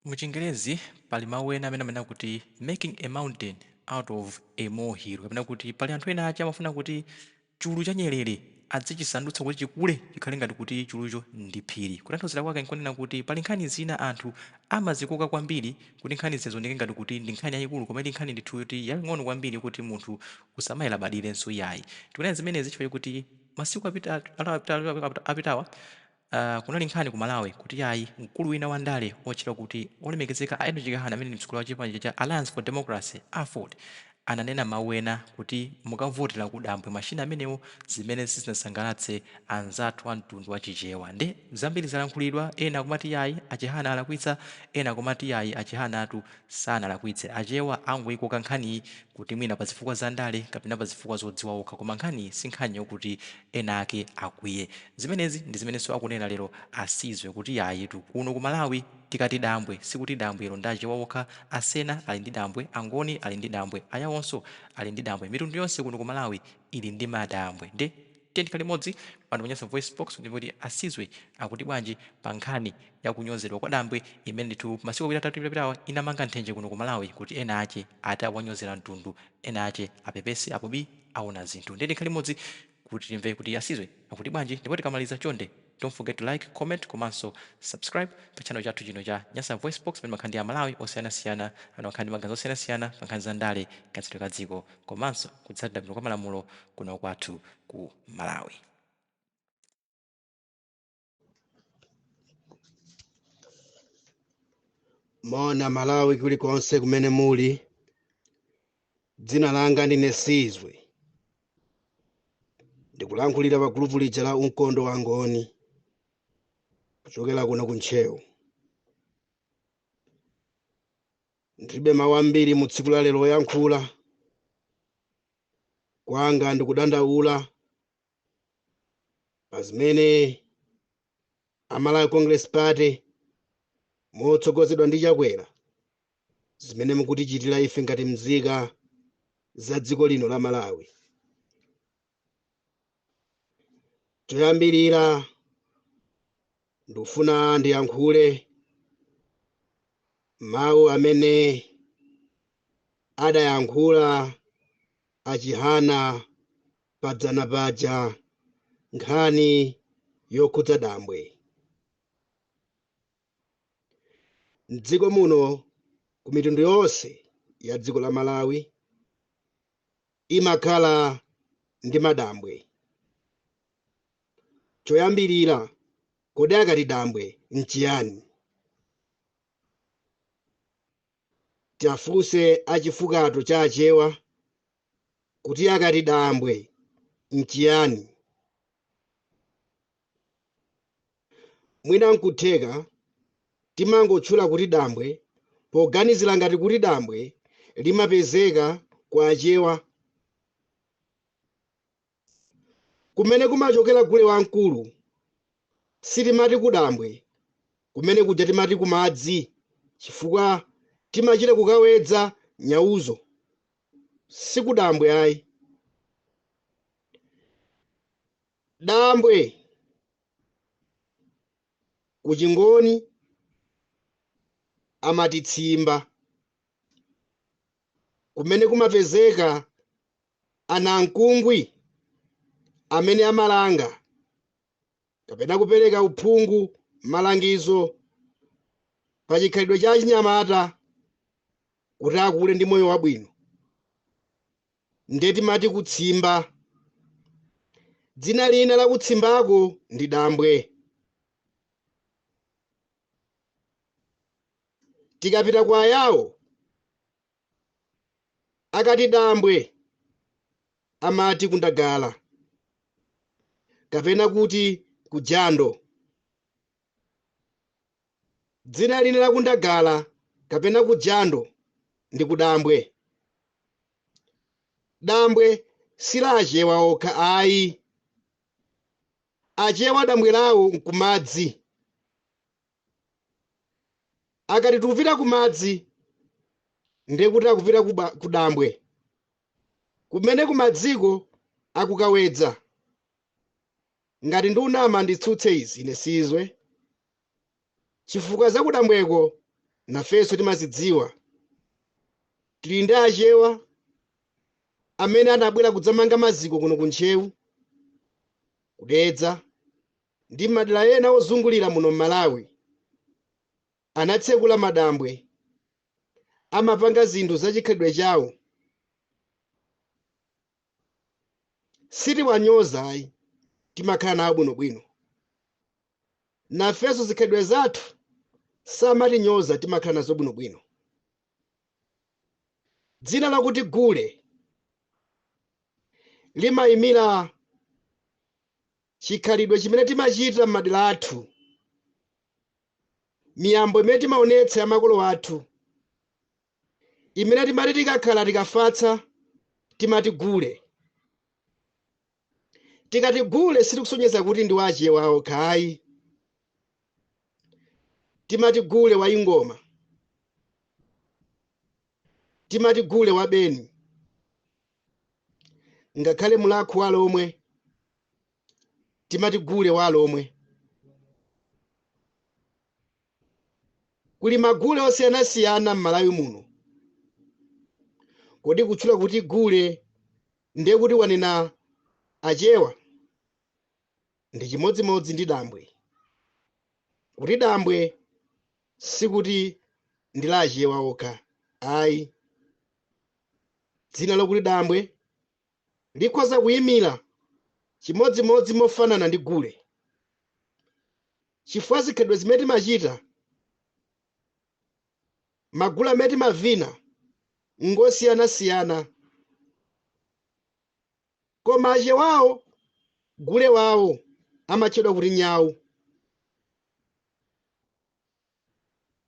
Mu chingerezi pali mau ena amene amanena kuti making a mountain out of a molehill kapena kuti pali anthu ena ache amafuna kuti chulu cha nyerere adzichisandutsa kuti chikule chikhale ngati kuti chulucho ndi phiri. Kutanthauzira kwake nkonena kuti pali nkhani zina anthu amazikoka kwambiri kuti nkhani zija zioneke ngati kuti ndi nkhani yayikulu koma ili nkhani ndithu yoti yaying'ono kwambiri yokoti munthu osamayilabadiranso iyayi. Tikunena zimenezi chifukwa chokuti masiku apitawa Aaa kunali nkhani ku Malawi kuti yayi mkulu wina wa ndale otchedwa kuti olemekezeka a Enock Chihana amene ndi mtsogoleri wa chipani cha cha Alliance for Democracy, aford, ananena mawu ena kuti mukavotela ku dambwe mashina amenewo zimene sizinasangalatse anzathu a mtundu wa chichewa nde zambiri zalankhulidwa ena akumati yayi a Chihana alakwitsa ena akumati yayi a Chihanatu sanalakwitse achewa angoyikoka nkhaniyi kuti mwina pa zifukwa za ndale kapena pa zifukwa zodziwa okha koma nkhaniyi si nkhani yokuti ena ake akwiye zimenezi ndi zimenenso akunena lero a Sizwe kuti yayitu kuno ku Malawi tikati dambwe sikuti dambwelo ndi achewa okha a Sena ali ndi dambwe angoni ali ndi dambwe ayawonso ali ndi dambwe mitundu yonse kuno ku Malawi ili ndi madambwe nde Tiyeni tikhale limodzi pano pa Nyasa VoiceBox kuti timve kuti a Sizwe akuti bwanji pa nkhani ya kunyozedwa kwa Dambwe imene ndithu masiku awiri atatu apitawa inamanga nthenje kuno ku Malawi kuti ena ache ati awanyozera mtundu, ena ache apepese apo bi aona zinthu. Ndiye tikhale limodzi kuti timve kuti a Sizwe akuti bwanji ndipo tikamaliza chonde Don't forget to like, comment komanso subscribe pa channel chathu chino cha Nyasa VoiceBox pamene timakhala ndi a Malawi osiyanasiyana amene amakhala ndi maganizo osiyanasiyana pa nkhani za ndale, kayendetsedwe ka dziko komanso kutsatidwa bwino kwa malamulo kuno kwathu ku Malawi. Moni a Malawi kulikonse kumene muli. Dzina langa ndine Sizwe. ndikulankhulira pa gulupu lija la mkondo wa ngoni kuchokera kuno ku ntcheu ndilibe mawu ambiri mu tsiku la lero koyankhula kwanga ndikudandaula pa zimene amalawi congress party motsogozedwa ndi chakwera zimene mukutichitira ife ngati mzika za dziko lino la malawi choyambirira ndikufuna ndiyankhule mawu amene adayankhula achihana padzana paja nkhani yokhudza dambwe M'dziko muno ku mitundu yonse ya dziko la Malawi imakhala ndi madambwe. Choyambirira, kodi akati dambwe n'chiyani? Tiwafunse a chifukwato cha Achewa kuti akati dambwe n'chiyani? Mwina n'kutheka timangotchula kuti dambwe poganizira ngati kuti dambwe limapezeka kwa Achewa. Kumene kumachokera gule wamkulu sitimati kudambwe, kumene kuja timati kumadzi chifukwa timachita kukawedza nyauzo, si kudambwe ayi. Dambwe ku chingoni amati tsimba kumene kumapezeka anankungwi amene amalanga kapena kupereka uphungu malangizo pa chikhalidwe cha achinyamata kuti akule ndi moyo wabwino nde timati kutsimba. Dzina lina la kutsimbako ndi dambwe. Tikapita kwa Ayawo, akati dambwe amati kundagala kapena kuti kujando. Dzina lina la kundagala kapena kujando ndi kudambwe. Dambwe si la Achewa okha ayi. Achewa dambwe lawo n'kumadzi. Akati tikupita kumadzi nde kuti akupita kudambwe kumene kumadziko akukawedza. Ngati ndunama nditsutse izi ine sizwe. chifukwa zakudambweko nafenso timazidziwa. Tili ndi Achewa amene anabwera kudzamanga maziko kuno ku Ntcheu, ku Dedza ndi madera ena ozungulira muno m'Malawi. Anatsekula madambwe, amapanga zinthu zachikhalidwe chawo. Sitiwanyoza ayi, timakhala nawo bwinobwino. nafenso zikhalidwe zathu samatinyoza timakhala nazo bwinobwino dzina lakuti gule limayimira chikhalidwe chimene timachita m'madera athu miyambo imene timaonetsa ya makolo athu imene timati tikakhala tikafatsa timati gule. Tikati gule sitikusonyeza kuti ndi wa Achewa okha ayi. Timati gule wa Ingoma. Timati gule wa Beni. Ngakhale mulakhu wa Alomwe timati gule wa Alomwe. Kuli magule osiyanasiyana m'Malawi muno. Kodi kutchula kuti gule ndiye kuti wanena Achewa? Ndi chimodzimodzi ndi dambwe. Kuti dambwe sikuti ndi la Achewa okha ayi. Dzina lokuti dambwe likhoza kuimira chimodzimodzi mofanana ndi gule, chifukwa zikhalidwe zimene timachita, magule amene timavina ngosiyanasiyana, koma Achewawo gule wawo amatchedwa kuti nyau.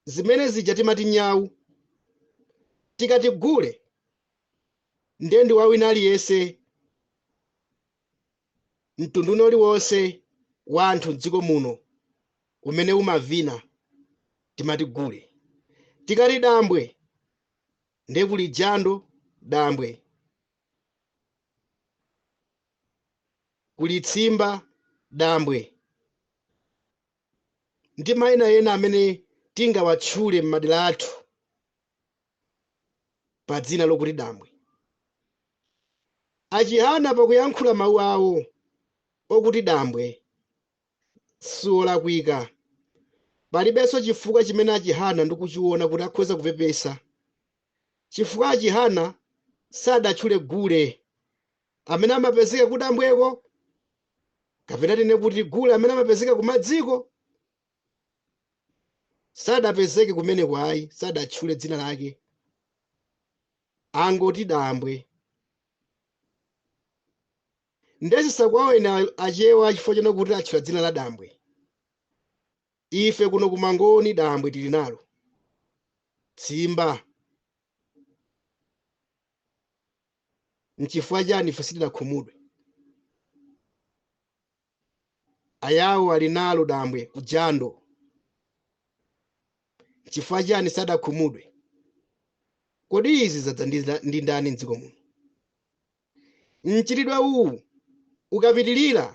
zimene zija timati nyau tikati gule ndiye ndi wawina aliyense mtundu wina uliwonse wa anthu m'dziko muno umene umavina timati gule tikati dambwe ndiye kuli jando dambwe kuli tsimba dambwe ndi maina ena amene tingawatchule m'madera athu pa dzina lokuti dambwe. A Chihana pakuyankhula mawu awo okuti dambwe siwolakwika. Palibenso chifukwa chimene a Chihana ndikuchiona kuti akhoza kupepesa chifukwa a Chihana sadatchule gule amene amapezeka kudambweko kapena tinene kuti gule amene amapezeka kumadziko sadapezeke kumeneko ayi sadatchule dzina lake angoti dambwe nde zisawawe ena achewa chifukwa choona kuti atchula dzina la dambwe ife kuno ku Mangoni dambwe tili nalo tsimba N'chifukwa chiyani ife sitinakhumudwe? Ayawo ali nalo dambwe ku jando. N'chifukwa chiyani sadakhumudwe? Kodi izi zadza ndi nda- ndi ndani m'dziko muno? Mchitidwe uwu ukapitirira,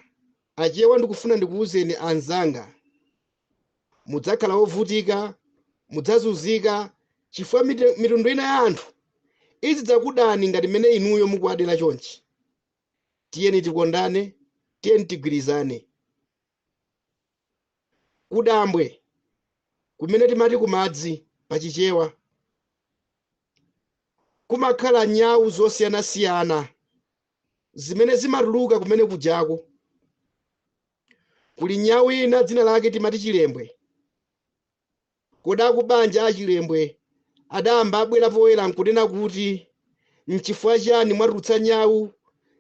Achewa ndikufuna ndikuwuzeni anzanga, mudzakhala wovutika, mudzazunzika, chifukwa mite- mitundu ina ya anthu idzidzakudani ngati mmene inuyo mukuwadera chonchi. Tiyeni tikondane, tiyeni tigwirizane. Kudambwe, kumene timati kumadzi pa Chichewa, kumakhala nyawu zosiyanasiyana zimene zimatuluka kumene kujako. kuli nyau ina dzina lake timati chilembwe kodi akubanja a chilembwe adayamba abwera poyera nkunena kuti nchifukwa chiyani mwatulutsa nyau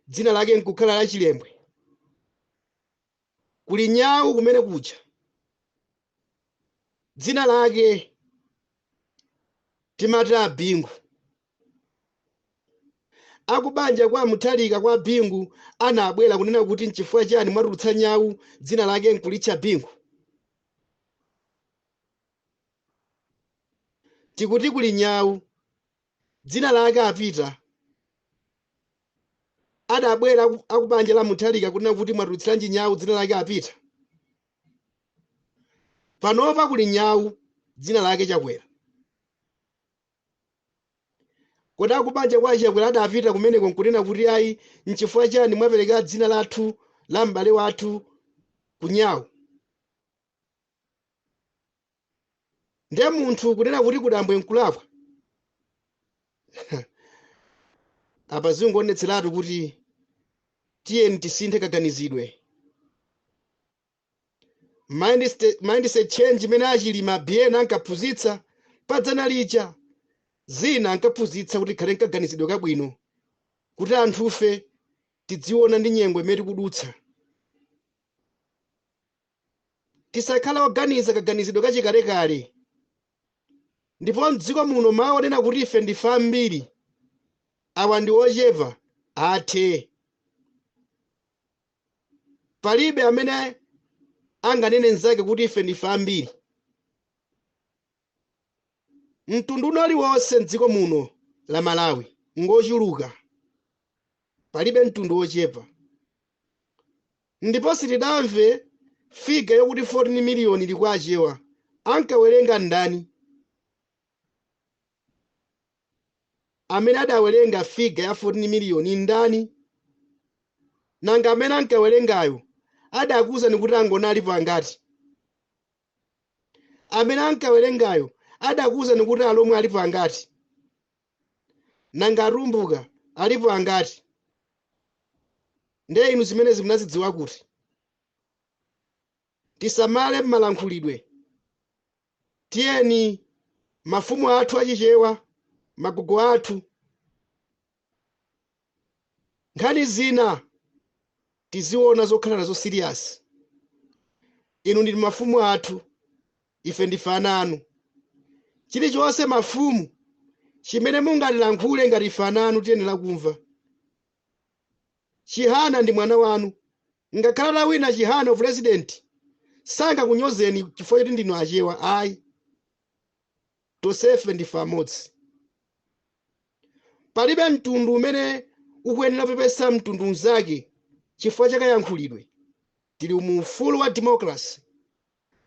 dzina lake nkukhala la chilembwe kuli nyau kumene kuja dzina lake timati abingu Akubanja kwa a Mutharika kwa a Bingu anabwera kunena kuti nchifukwa chani mwatulutsa nyau dzina lake nkulitcha Bingu. Tikuti kuli nyau dzina lake a Peter adabwera aku- akubanja la Mutharika kunena kuti mwatulutsiranji nyau dzina lake a Peter. Panopa kuli nyau dzina lake Chakwera. Kodi akubanja kwa achakwera adapita kumeneko nkunena kuti ayi nchifukwa chani mwapereka dzina lathu la m'bale wathu ku nyau? Nde munthu kunena kuti kudambwe nkulakwa? Apa zikungoonetseratu kuti tiyeni tisinthe kaganizidwe. mindset, mindset change imene achilima biyeni ankaphunzitsa padzana lija zina ankaphunzitsa kuti tikhale nkaganizidwe kabwino kuti anthufe tidziona ndi nyengo imene tikudutsa tisakhale oganiza kaganizidwe kachikalekale ndipo mdziko muno mawu onena kuti ife ndife ambiri awa ndi ochepa athe palibe amene anganene nzake kuti ife ndife ambiri mtundu uno uliwonse mdziko muno la malawi ngochuluka palibe mtundu wochepa ndipo sitidamve figa yokuti 14 miliyoni ili kwa achewa ankawerenga ndani Amene adawerenga figa ya 14 miliyoni ndani? Nanga amene ankawerengayo adakuuzani kuti angoni alipo angati? Amene ankawerengayo adakuuzani kuti alomwe alipo angati? Nanga atumbuka alipo angati? Ndiye inu zimenezi munazidziwa kuti? Tisamale m'malankhulidwe. tiyeni mafumu athu achichewa magogo athu nkhani zina tiziona zokhala nazo serious inu ndinu mafumu athu ife ndife ana anu chilichonse mafumu chimene mungatilankhule ngati ife ana anu tiyenera kumva chihana ndi mwana wanu Ngakhale atawina Chihana upresidenti sangakunyozeni chifukwa choti ndinu Achewa ayi. Tonsefe ndife amodzi. Palibe mtundu umene ukuyenera kupepesa mtundu mnzake chifukwa cha kayankhulidwe. Tili mu ufulu wa democracy.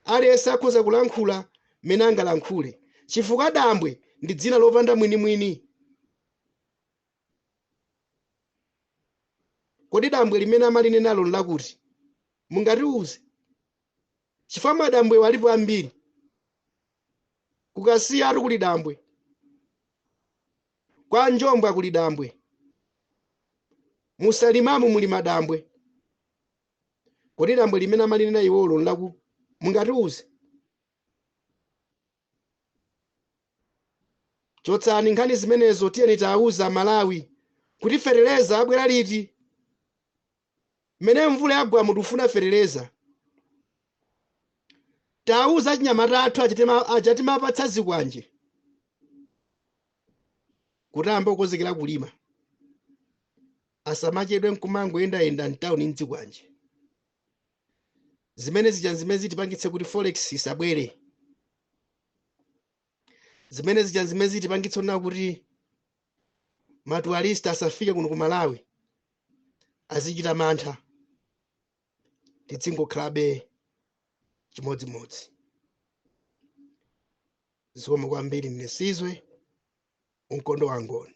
Aliyense akhoza kulankhula mmene angalankhule chifukwa Dambwe ndi dzina lopanda mwinimwini. Kodi dambwe limene amalinenalo n'lakuti? Mungatiuze? Chifukwa madambwewa alipo ambiri. Ku Kasiyatu kuli dambwe. Kwa Njombwa kuli dambwe. Mu Salimamu muli madambwe. Kodi dambwe limene amalinena iwolo n'laku? Mungatiuze? chotsani nkhani zimenezo tiyeni tawauza amalawi kuti fetereza abwera liti mmene mvula yagwamu tikufuna fetereza tawauza achinyamata athu achatimapatsa zikwanje kuti ayambe kukonzekera kulima asamachedwe nkumangoyendayenda mtawuni ndi zikwanje zimene zija nzimene zitipangitse kuti forex isabwere zimene zija nzimene zitipangitse kunena kuti matuwalisti asafike kuno ku malawi azichita mantha tidzingokhalabe chimodzimodzi zikomo kwambiri mnesizwe unkondo wangoni